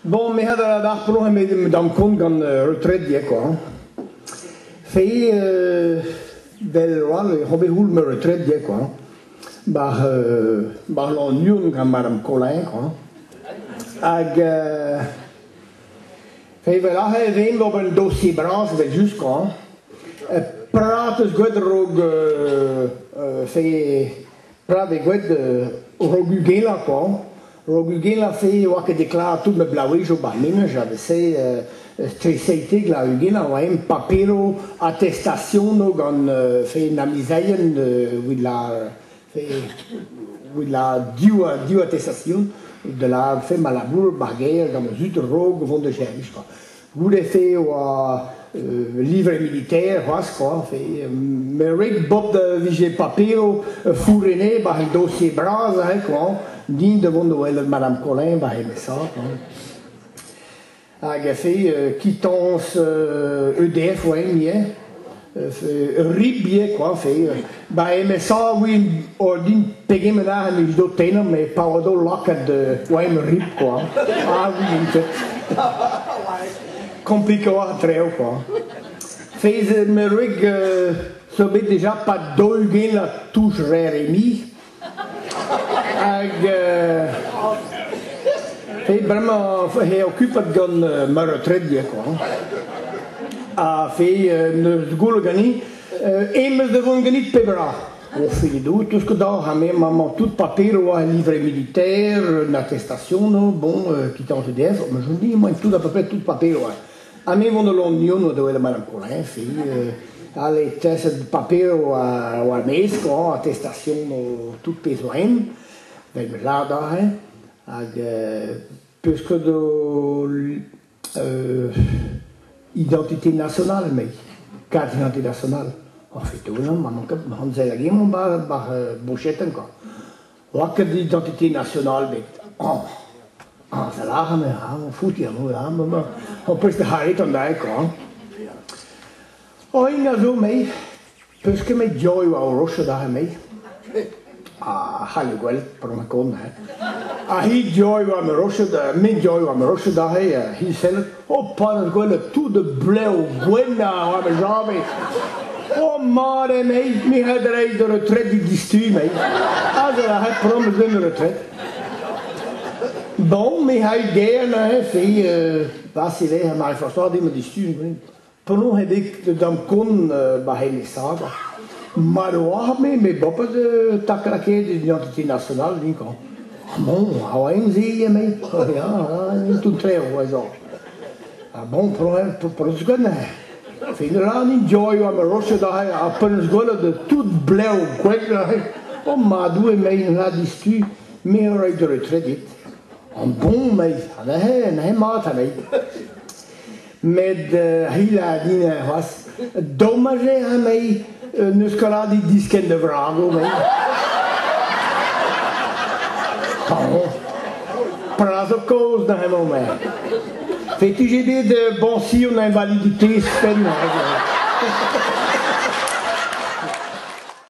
Bon, me had a darpolo he me dam kont gant uh, retredier quoi. Fe uh, del ral e hobe hul me retredier quoi. Bar uh, bar lon niun gant madame Colin quoi. Hag uh, Evel aze ez int ober un dossier bras evel-just-koñ. Prad eus gwad rog se prad eo gwad rog ugelañ koñ. Rog ugelañ se e oa ket deklaret tout ma blavezioù ba'n menaj a vez se streseite glav ugelañ oa eñ papiro attestasiono gant se an amizailhenn evit lâr Evit div atestasion da lârfe ma labour bar gêr gant ma zud raok vont da servij kwa. Goude-se e oa euh, livre militaire c'hoazh kwa. Me red bob da vije papiro fourrene bar an dossier bras hein, kwa, din da vont da welet Madame Collin bar he mesa. Hag a fe quittance EDF oa hini eh ur ribie kwa fe ba MSA oa ordin pegement a mil do tenner me pa oa do lakaat oa em rib kwa ah oui en fait compliqué war treo quoi Fez me reg so bet déjà pas dolgen a touche rere mi Hag he bremañ he okupet gant ma retredi quoi. Ha fe neus goul gani emeus da vont ganit pebra. O fedoù, tout ce que da ha me maman tout papier oa un livret militaire, une attestation, bon, qui tente d'être, mais je dis, moi tout à peu près tout papier oa. Ha me vont da Lannion oa da welet Madame Collin, filh. All e teset paper war, war mesk, oh, attestation o tout pezh zo en. Vel me lâr aze. Hag euh, peusket o euh, identité nationale mei, carte d'identité nationale. En fait, tout, ma manque, ma hanzel hag mon bar, bar euh, bochette encore. Oa ket d'identité nationale bet. Añs. Añs a lâran eo ha o fouti anv ha maman ho peus bet aet an dae kwa. Oin a zo mei, peus ket met diou e oa o roch adarre mei. A c'halle gwell par ma kont, hè. Ha hi diou e oa ma roch, me diou e oa ma roch adarre, he sellet O paned gwelet tout de blev gwenna a oa ma jañvez. O mat eo mei, me ret reiz d'an retret dit distu mei. Hag a ret promis d'an retret. Bon, me hai gern aze, se, pas si vez, ma reforçoa dit ma distu, Penaos eo bet da'm kont ma c'hellisadur mat eo arme met boa pas tak lakaet d'identité nationale dinkañ. Bon, a oa int-se emaint ya, tout tre eo ez oc'h. Ha bon, penaos ganin? Fin rann joy oa ma roset aze ha penaos gwelet tout blev gwreg aze. O madou emaint la distu, me a ray de retrait dit. An bon meiz, ha neuze, neuze mat ameit. met uh, hilañ din er c'hoazh. Domaj e ra mei un euskoladig diskenn da vrago mei. Oh, Pras o kaoz da hemañ mei. Fetu-je bet uh, boñsi an invalidités penn?